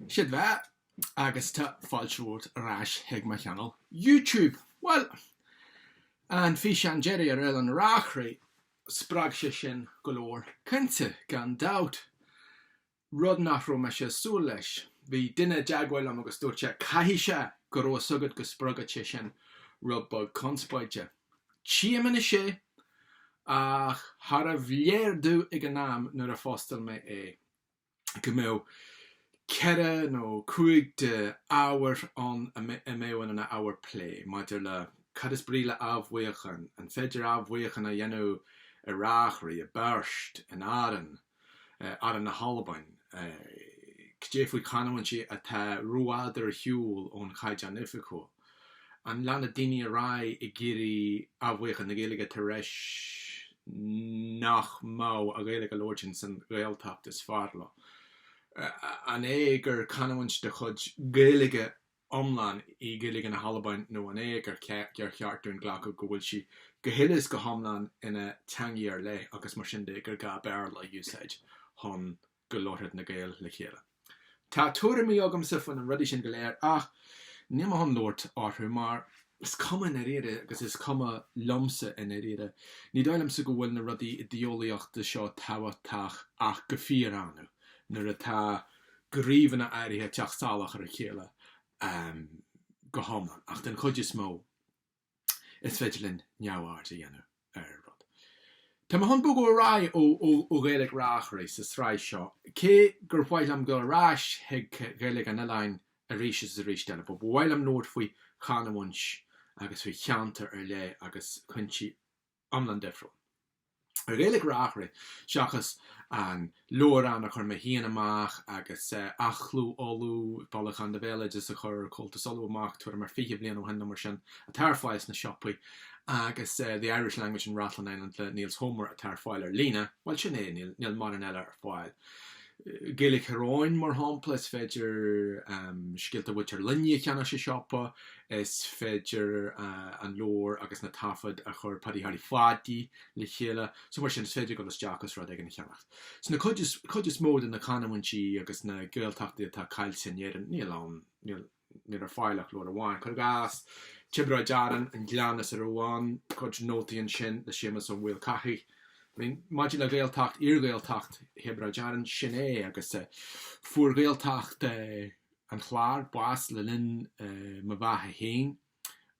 Sé do bheatha agus tá fáilte romhat ar ais chuig mo channel YouTube. Bhuel, an físeán deiridh ar Oileán Reachraidh, spreag sé sin go leor cainte gan dabht. rud nach raibh mise ag súil leis. Bhí duine i dteagmháil liom agus dúirt sé, Caithfidh sé go raibh a fhios agat go spreagfadh sé sin rud beag conspóide. Tchím anois é, ach charbh léir domh ag an am nuair a phostáil mé é go mbeadh ceithre nó cúig de ábhair ann a mbeadh in ina ábhair plé maidir le cad is brí le athbheochan, an féidir athbheochan a dhéanamh i Reachraidh, i bPeairt, in Árainn. Árainn na hAlban, Cad é faoi chanúintí atá rófhada ar shiúl ón Chaighdeán Oifigiúil? An leanfaidh daoine ar aghaidh ag iarraidh athbheochan na Gaeilge tar éis nach mbeadh an Ghaeilge á labhairt ins an Ghaeltacht is fearr leo? An é gur canúint de chuid Gaeilge iomlán í Gaeilge na hAlban nó an é gur cheart dúinn glacadh go bhfuil sí go huile is go hiomlán ina teangaidh ar leith agus mar sin de gur gá Béarla a úsáid chun go labharfadh na Gaeil le chéile. Tá tuairimí agamsa faoi na rudaí sin go léir ach níl mé chun labhairt orthu mar is cuma i ndáiríre agus is cuma liomsa i ndáiríre. Ní dóigh liomsa go bhfuil na rudaí idéolaíochta seo tábhachtach ach go fíor-annamh nuair atá gníomhanna áirithe ag teacht salach ar a chéile go hiomlán ach den chuid is mó is féidir linn neamhaird a dhéanamh ar rud. Tá mé chun bogadh ar aghaidh ó Ghaeilge Reachraidh sa tsraith seo cé gur mhaith liom dul ar ais chuig Gaeilge an Oileáin arís is arís eile. Ba mhaith liom labhairt faoi chanúint agus faoi cheantar ar leith agus cúinsí iomlán difriúil. Ar Ghaeilge Reachraidh, seachas an leabhrán a chuir mé féin amach agus Athchló Uladh, bailiúchán de bhéaloideas a chuir Comhaltas Uladh amach tuairim ar fiche bliain ó shin nó mar sin, atá ar fáil sna siopaí, agus The Irish Language in Rathlin Island le Nils Holmer atá ar fáil ar líne, bhuel, sin é, níl mórán eile ar fáil. Gaeilge Thír Eoghain, mar shampla, is féidir Scéalta Mhuintir Luinigh a cheannach sa siopa, Is féidir an leabhar agus na taifid a chuir Paddy Harry Pháidí le chéile so mar sin is féidir dul isteach is rud éigin a cheannacht. Sna cuid is mó de na canúintí agus na Gaeltachtaí atá caillte in Éirinn níl ann, níl ar fáil ach leabhar amháin, cuir i gcás, Tiobraid Árann, An Gleann is a Raibh Ann, cuid nótaí ansin le Séamus Ó Maolchathaigh. I mean, maidir le Gaeltacht, iar-Ghaeltacht Thiobraid Árann, sin é agus fuair Gaeltacht an Chláir, bás le linn mo bheatha féin,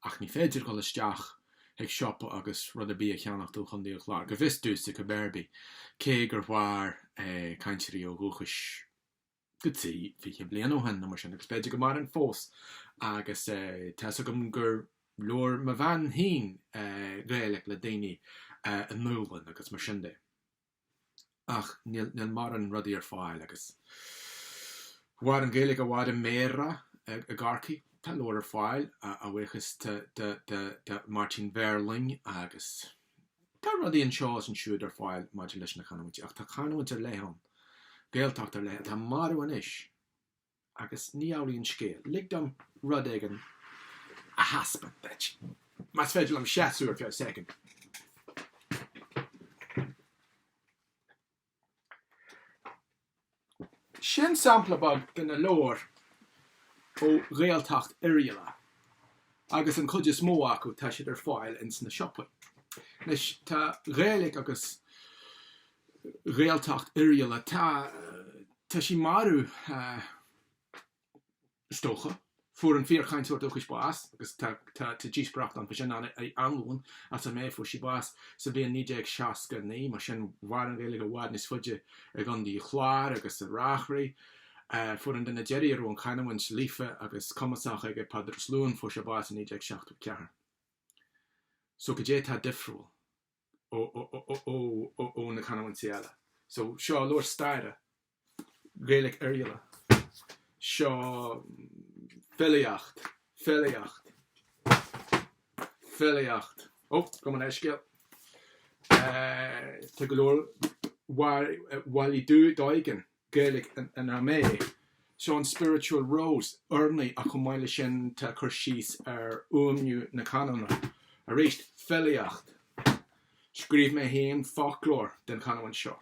ach ní féidir dul isteach chuig siopa agus rud ar bith a cheannacht ó Chontae an Chláir, go bhfios domhsa cibé ar bith, cé gur mhair cainteoirí ó dhúchas go dtí fiche bliain ó shin nó mar sin, agus b'fhéidir go maireann fós, agus tá's agam gur labhair mo bhean féin Gaeilic le daoine i nDúlainn agus mar sin de. ach níl mórán rudaí ar fáil agus mhair an Ghaeilge i bhfad i mBéarra i gCorcaigh. Tá leabhair ar fáil a bhuíochas de Martin Verling agus tá rudaí anseo is ansiúd ar fáil maidir leis na canúintí ach tá canúint ar leith ann, Gaeltacht ar leith ann atá marbh anois. Agus ní amhlaidh an scéal. Lig dom rud éigin a thaispeáint duit, más féidir liom seasamh ar feadh soicind. Sin sampla beag de na leabhair ó Ghaeltacht Oirialla agus an chuid is mó acu tá siad ar fáil ins na siopaí. Anois tá Gaeilge agus. Gaeltacht Oirialla. Tá, tá sí marbh, is dócha. Fuair an fíor-chainteoir dúchais bás agus tá, tá, tá díospóireacht ann fá sin, Anna Uí Annluain as Ó Méith. Fuair sí bás sa bhliain 1969, mar sin mhair an Ghaeilge i bhfad níos faide i gContae an Chláir agus i Reachraidh. Fuair an duine deiridh a raibh an canamhaint líofa agus cumasach aige, Peadar Ó Sluáin, fuair sé bás i 1974. So, cad é tá difriúil? ó na canúintí eile. So seo leabhar staire, Gaeilic Oirialla, seo filíocht, filíocht, filíocht, ó, gabh mo leithscéal, tá go leor bhailigh Doegen, Gaeilic in Ó Méith. Seo an Spiritual Rose, urnaí ach chomh maith le sin tá cur síos ar fhuaimniú na canúna. Arís, filíocht. Scríobh mé féin foclóir den chanúint seo.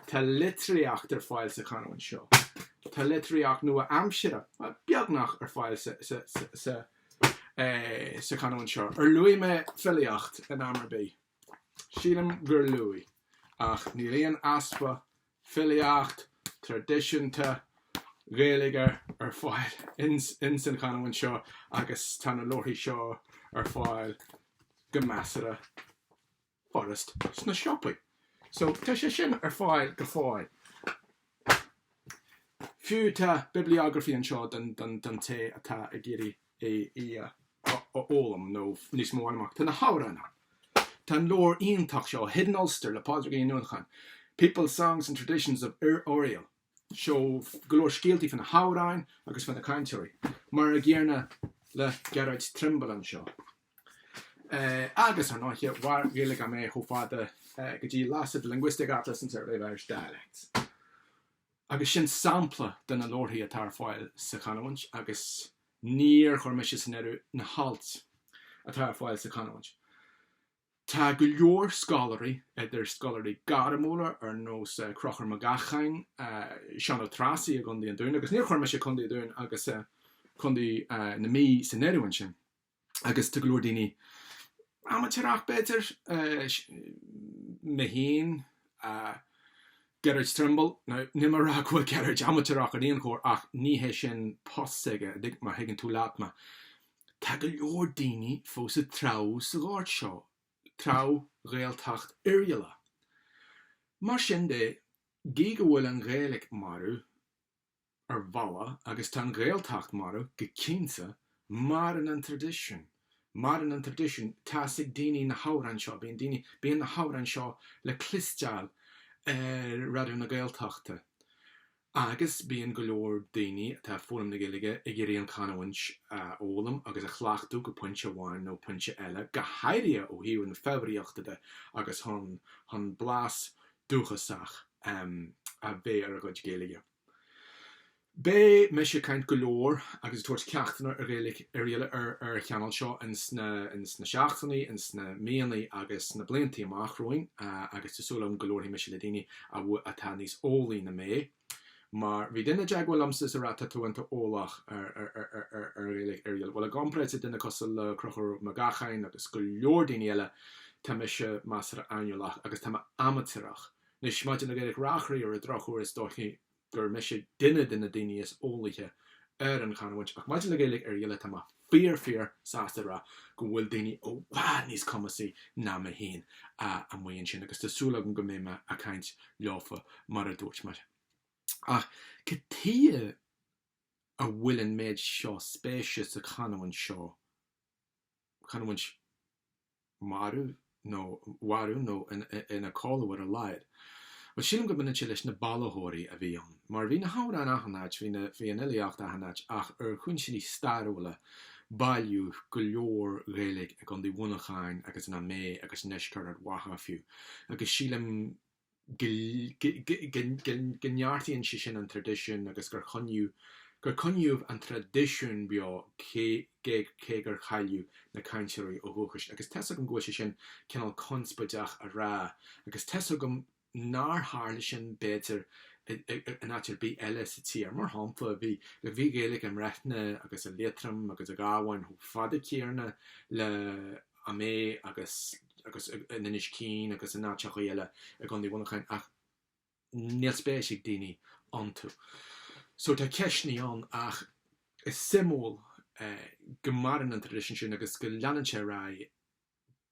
Tá litríocht ar fáil sa chanúint seo. Tá litríocht nua aimsire, beagnach, ar fáil sa sa chanúint seo. Ar luaigh mé filíocht in am ar bith? Sílim gur luaigh. Ach níl aon easpa filíocht traidisiúnta Ghaeilge ar fáil ins an chanúint seo agus tá na leabharthaí seo ar fáil go measartha furast sna siopaí. So tá sé sin ar fáil go fóill. Fiú tá bibliography anseo don té atá ag iarraidh é a fhoghlaim nó níos mó a fháil amach. Tá na hamhráin ann. Tá an leabhar iontach seo, Hidden Ulster le Pádraigín Ní Uallacháin, People, Songs and Traditions of Oriel, seo go leor scéaltaí fá na hamhráin agus fá na cainteoirí, mar a gcéanna le Gerard Trimble anseo. Agus, ar ndóiche, mhair Gaeilge Ó Méith chomh fada go dtí Lasid, Linguistic Atlas and Survey of Irish Dialects. Agus sin sampla de na leabharthaí atá ar fáil sa chanúint agus níor chuir mise san áireamh na hailt atá ar fáil sa chanúint. Tá go leor scoláirí, idir scoláirí gairmiúla ar nós Conchúr Mag Eacháin, Seán Ó Treasaigh i gCondae an Dúin, agus níor chuir mise Condae an Dúin agus Condae na Mí san áireamh ansin. agus tá go leor daoine amaitéarach b'fhéidir, mé féin, Gerard Trimble, now níl mé a rá go bhfuil Gerard amaitéarach ar aon chor ach ní hé sin post s'aige, má thuigeann tú leat mé. Tá go leor daoine fós ag treabhadh sa ghort seo, treabhadh Ghaeltacht Oirialla. Mar sin de, gidh go bhfuil an Ghaeilge marbh, ar bhealach agus tá an Ghaeltacht marbh go cinnte, maireann an traidisiún, maireann an traidisiún, tá's ag daoine na hamhráin seo, bíonn daoine, bíonn na hamhráin seo le cloisteáil ar Raidió na Gaeltachta agus bíonn go leor daoine atá ag foghlaim na Gaeilge ag iarraidh an chanúint a fhoghlaim agus a chleachtadh go pointe amháin nó pointe eile, go háirithe ó thaobh na foghraíochta de agus chun, chun blas dúchasach a bheith ar a gcuid Gaeilge. Beidh mise ag caint go leor agus ag tabhairt ceachtanna ar Ghaeilge Oirialla ar an channel seo ins na seachtainí, ins na míonnaí agus sna bliantaí amach romhainn agus tá súil agam go labharfaidh mise le daoine atá níos eolaí ná mé. Mar bhí duine i dteagmháil liomsa is a rá tá tú iontach eolach ar Ghaeilge Oirialla. Bhuel, i gcomparáid le duine cosúil le Conchúr Mag Eacháin agus go leor daoine eile, tá mise measartha aineolach agus tá mé amaitéarach. Anois, maidir le Gaeilge Reachraidh, ar an drochuair is dóichí gur mise duine de na daoine is eolaíche ar an chanúint ach maidir le Gaeilge Oirialla tá mé fíor fíor sásta a rá go bhfuil daoine i bhfad níos cumasaí ná mé féin amuigh ansin agus tá súil agam go mbeidh mé a' caint leofa mar a dúirt mé. Ach cad tuighe a bhfuil an méid seo spéise sa chanúint seo, canúint. marbh nó mharbh nó ina codladh ar a laghad. Bhuel, sílim go mbaineann sé leis na bailitheoirí a bhí ann. Mar bhí na hamhráin achan áit, bhí na, bhí an fhilíocht achan áit ach ar chúinsíní stairiúla bailíodh go leor Ghaeilge i gCondae Mhuineacháin agus in Ó Méith agus i ndeisceart Ard Mhacha fiú agus sílim go neartaíonn sé sin an traidisiún agus gur coinníodh gur coinníodh an traidisiún beo cé cé cé gur cailleadh na cainteoirí ó dhúchas agus tá's agam go bhfuil sé sin cineál conspóideach a rá agus tá's agam nár tharla sin b'fhéidir in áit ar bith eile sa tír. Mar shampla, bhí bhí Gaeilge i mBreifne agus i Liatroim agus i gCabhán chomh fada céanna le Ó Méith agus agus in Inis Caoin agus in áiteachaí eile i gCondae Mhuineacháin ach níl spéis ag daoine iontu. So tá ceisteannaí ann ach is suimiúil go maireann an traidisiún sin agus go leanann sé ar aghaidh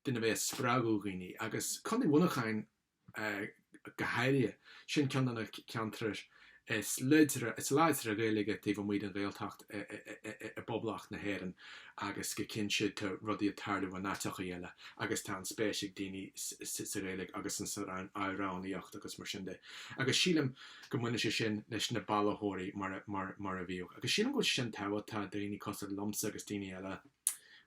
d'fhonn a bheith ag spreagadh daoine agus Condae Mhuineacháin, go háirithe. Sin ceann de na ceantrair is láidre, is láidre Gaeilge taobh amuigh den Ghaeltacht i bPoblacht na hÉireann agus go cinnte tá rudaí ag tarlú in áiteachaí eile agus tá an spéis ag daoine sa Ghaeilge agus in san amhránaíocht agus mar sin de agus sílim go mbaineann sé sin leis na bailitheoirí mar a bhíodh agus sílim go bhfuil sé sin tábhachtach tá daoine cosúil liomsa agus daoine eile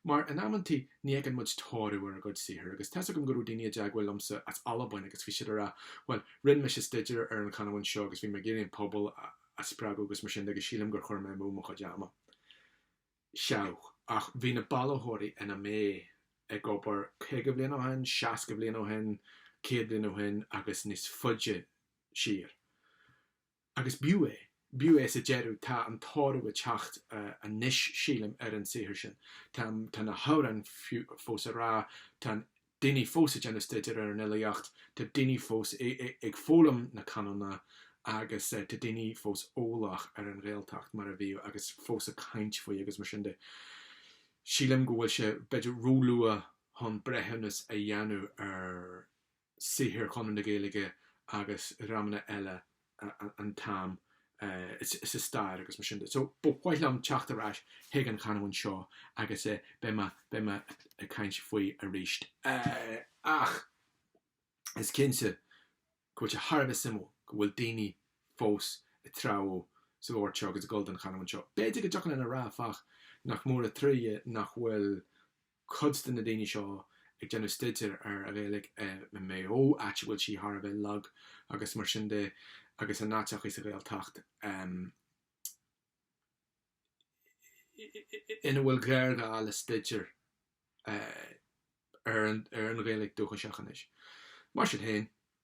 mar in amanntaí Ní fheiceann muid toradh ar ár gcuid saothair agus tá's agam go raibh daoine i dteagmháil liomsa as Albain agus bhí siad a rá bhuel, rinn mise staideár ar an chanamhaint seo agus bhí mé ag iarraidh an pobal a spreagadh agus mar sin de agus sílim gur chuir mé amú mo chuid ama. Seadh, ach bhí na bailitheoirí in Ó Méith ag obair caoga bhliain ó shin, seasca bhliain ó shin, céad bhliain ó shin agus níos faide siar. Agus b'fhiú é. B'fhiú é sa deireadh. Tá an toradh ag teacht anois, sílim, ar an saothar sin. Tá na hamhráin fós á rá, tá daoine fós ag déanamh staidéir ar an fhilíocht, tá daoine fós ag foghlaim na canúna agus tá daoine fós eolach ar an Ghaeltacht mar a bhíodh agus fós ag caint faoi agus mar sin de. Sílim go bhfuil sé b'fhéidir róluath chun breithiúnas a dhéanamh ar. saothar Chonradh na Gaeilge agus dhreamanna eile an t-am sa stair agus mar sin de. So ba mhaith liom teacht ar ais chuig an chanúint seo agus beidh mé beidh mé ag caint faoi arís. Ach is cinnte go bhfuil sé thar a bheith suimiúil go bhfuil daoine fós ag treabhadh sa ghort seo agus ag dul don chanúint seo. B'fhéidir go dtiocfadh linn a rá, áfach, nach mór an trua nach bhfuil. cuid de na daoine seo ag déanamh staidéir ar an Ghaeilge i Maigh Eo, áit a bhfuil sí thar a bheith lag agus mar sin de, agus in áiteachaí sa Ghaeltacht ina bhfuil géarghá le staidéar ar an Ghaeilge dúchaiseach anois. Mar sin féin,